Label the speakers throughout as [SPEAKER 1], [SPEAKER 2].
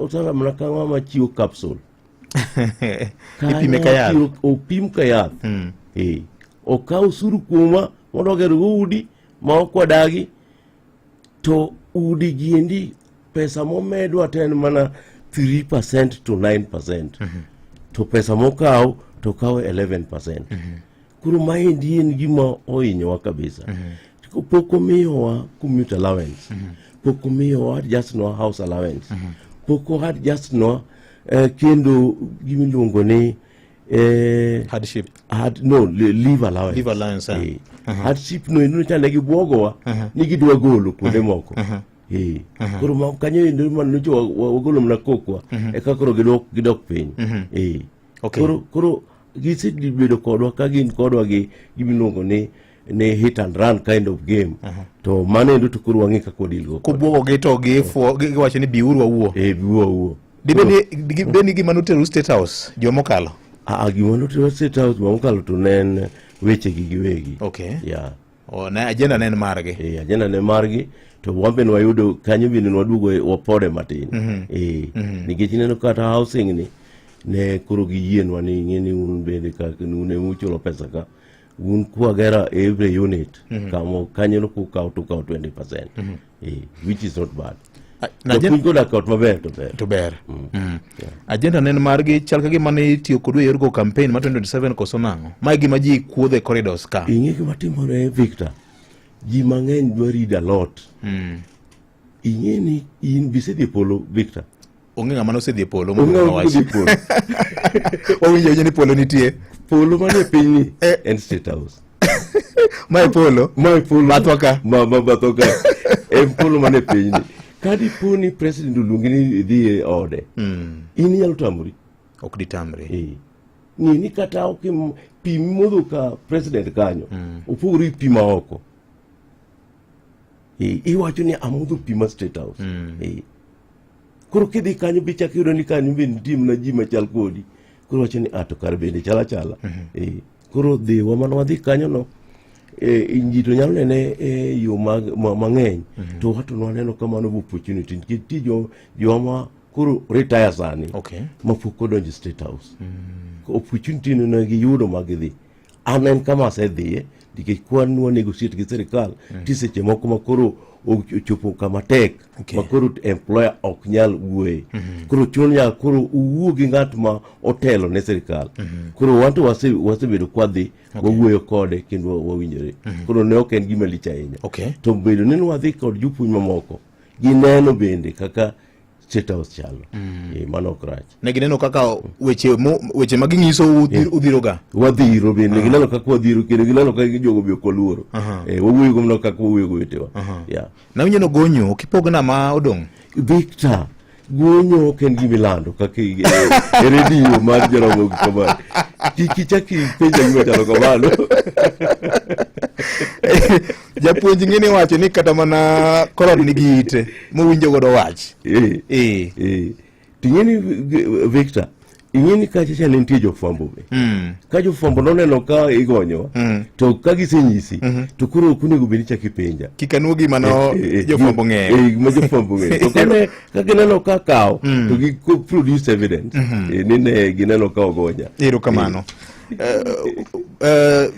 [SPEAKER 1] Sasa mnakaa mama chio capsule.
[SPEAKER 2] Ipime ka yath. Opim ka yath.
[SPEAKER 1] Mm. Eh. Okaw usuru kuoma mondo ogergo udi ma ok wadagi to udi giendi pesa momedwa to en mana 3% to 9%. Mm -hmm. To pesa mokaw to kaw 11%. Mm -hmm. Koro maendi en gima ohinyowa kabisa. Mm -hmm. Pok omiyowa commute allowance. Mm -hmm. Pok omiyowa just no house allowance. Mm -hmm. Pok owa just no eh, kendo gimiluongo ni eh,
[SPEAKER 2] hardship hard, no
[SPEAKER 1] leave allowance leave allowance eh. eh. uh -huh.
[SPEAKER 2] hardship
[SPEAKER 1] no ino chane gi bwogowa uh -huh. ni gidwa golo kuonde uh -huh. moko uh -huh. Eh. Uh -huh. koro kanyo endo man nocho wagolo mana kokwa uh -huh. eka koro gidok gidok piny uh -huh. eh. Okay. Koro koro gisebedo kodwa ka gin kodwa gi gimiluongo ni ni hit and run kind of game uh -huh. to mano endo to koro wang'e kaka wadilgo kobwogogi to
[SPEAKER 2] giwacho ni biuru wawuo e biuru wawuo
[SPEAKER 1] dibed ni
[SPEAKER 2] gima noteru state house juma mokalo gima noteru
[SPEAKER 1] state house juma mokalo to ne en wechegi giwegi okay. yeah. Oh, ne ajenda
[SPEAKER 2] ne en margi. Eh, ajenda ne margi
[SPEAKER 1] to wambe ne wayudo kanyo bende nwaduogo wapode matin. Mm -hmm. Eh, mm -hmm. nikech ineno kata housing ni ne koro giyienwa ni ing'e ni un bende ka un ema uchulo pesa ka un kwagera every unit mm -hmm. kamo kanyo no kukawo tukawo 20 percent mm -hmm. eh, which is not bad A- na japuonj agenda- koda kot maber to ber to ber Mm. agenda
[SPEAKER 2] ne en margi chal ka gima ne itiyo kodwa e yorgo campaign ma 2027 koso nang'o ma e gima ji kuodhe corridors ka ing'e gima timore
[SPEAKER 1] victor ji mang'eny dwa read a lot ing'e ni in bisedhi e polo victor onge ng'ama nosedhi
[SPEAKER 2] e polo
[SPEAKER 1] wawinjo
[SPEAKER 2] ni polo nitie polo manie pinyni
[SPEAKER 1] eh. en state house mae
[SPEAKER 2] polo mae polo bathwa ka ma ma bathwa ka
[SPEAKER 1] en polo manie pinyni kadi po ni president oluongi ni idhi e ode hmm. in inyalo tamori ok ditamre
[SPEAKER 2] eh. ng'e ni
[SPEAKER 1] kata ok pi modho ka president kanyo hmm. opogore gi pi ma oko iwacho ni amodho pi ma state house mm. koro kidhi kanyo be chak yudo ni kanyo be nitie mana ji machal kodi koro wacho ni ato ah, kar bende chala chala mm -hmm. e, koro dhiwa mana wadhi kanyo no e, ji to nyalo nene e, yo mang'eny mm -hmm. to wato nwaneno kamano opportunity nikech ti jo, joma koro retire sani okay. mapok odonjo state house mm -hmm. opportunity nonegiyudo magidhi An en kama asedhiye nikech kwan nwa negotiate gi sirikal mm. ti seche moko ma koro ochopo kama tek okay. ma koro employer ok nyal wuoye mm -hmm. koro chuno nyaka koro uwuo gi ng'at ma otelo ne sirikal mm -hmm. koro wanto wasebedo wase kwadhi okay. wawuoyo kode kendo wawinjore mm -hmm. koro ne ok en gima lich ahinya okay. to bedo ni nwadhi kod jopuonj mamoko gineno bende kaka State House chalo mm. e, mano ok rach ne gineno kaka
[SPEAKER 2] weche mo, weche ma ginyiso eh. udhiroga wadhiro bende uh -huh.
[SPEAKER 1] gineno kaka wadhiro kendo gineno kaka jogo be kolworo uh -huh. e, eh, wawuoyo go mno kaka wawuoyo go wetewa uh -huh. yeah. na unyeno
[SPEAKER 2] gonyo kipogna ma odong' Victor
[SPEAKER 1] guonyo ok en gima ilando kaka e redio mar joromo gi kamano kik ichak ipenja gima chalo kamano
[SPEAKER 2] japuonj ng'ini wacho ni kata mana kolon nigi ite mowinjo godo wach eh. Eh. Eh.
[SPEAKER 1] ting'eni victor ing'eni kacha cha ne nitie jofwambo be mm. ka jofwambo noneno ka igonyowa mm. to ka gisenyisi mm -hmm. to koro ok onego bed ni chak ipenja kik anuo gima no
[SPEAKER 2] eh, eh, eh, jofwambo ng'eyo gima jofwambo ng'eyo
[SPEAKER 1] to kane ka gineno ka kawo mm. to gi produce evidence mm -hmm. e, nine gineno ka ogonya erokamano
[SPEAKER 2] uh, uh,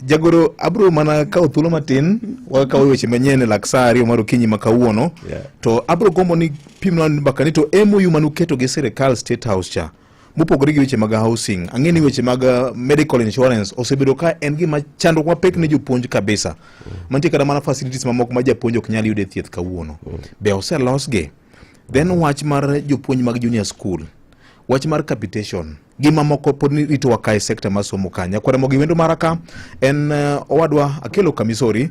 [SPEAKER 2] Jagoro, abro mana kawo thuolo matin wakawo weche manyien e lak saa ariyo mar okinyi ma kawuono yeah. To abro gombo ni pimna mbaka ni to MOU mane uketo gi sirikal State House cha mopogore gi weche mag housing, ang'e ni weche mag uh, medical insurance osebedo ka en gima chandruok mapek ne jopuonj kabisa mm. Mantie kata mana facilities mamoko ma japuonj ok nyal yude thieth kawuono mm. Be oselosgi? Then wach mar jopuonj mag junior school, wach mar capitation gi mamoko pod ni ritowa ka e sekta mar somo ka. Nyakwaremogi wendo mara ka en eh, owadwa Akelo Kamisori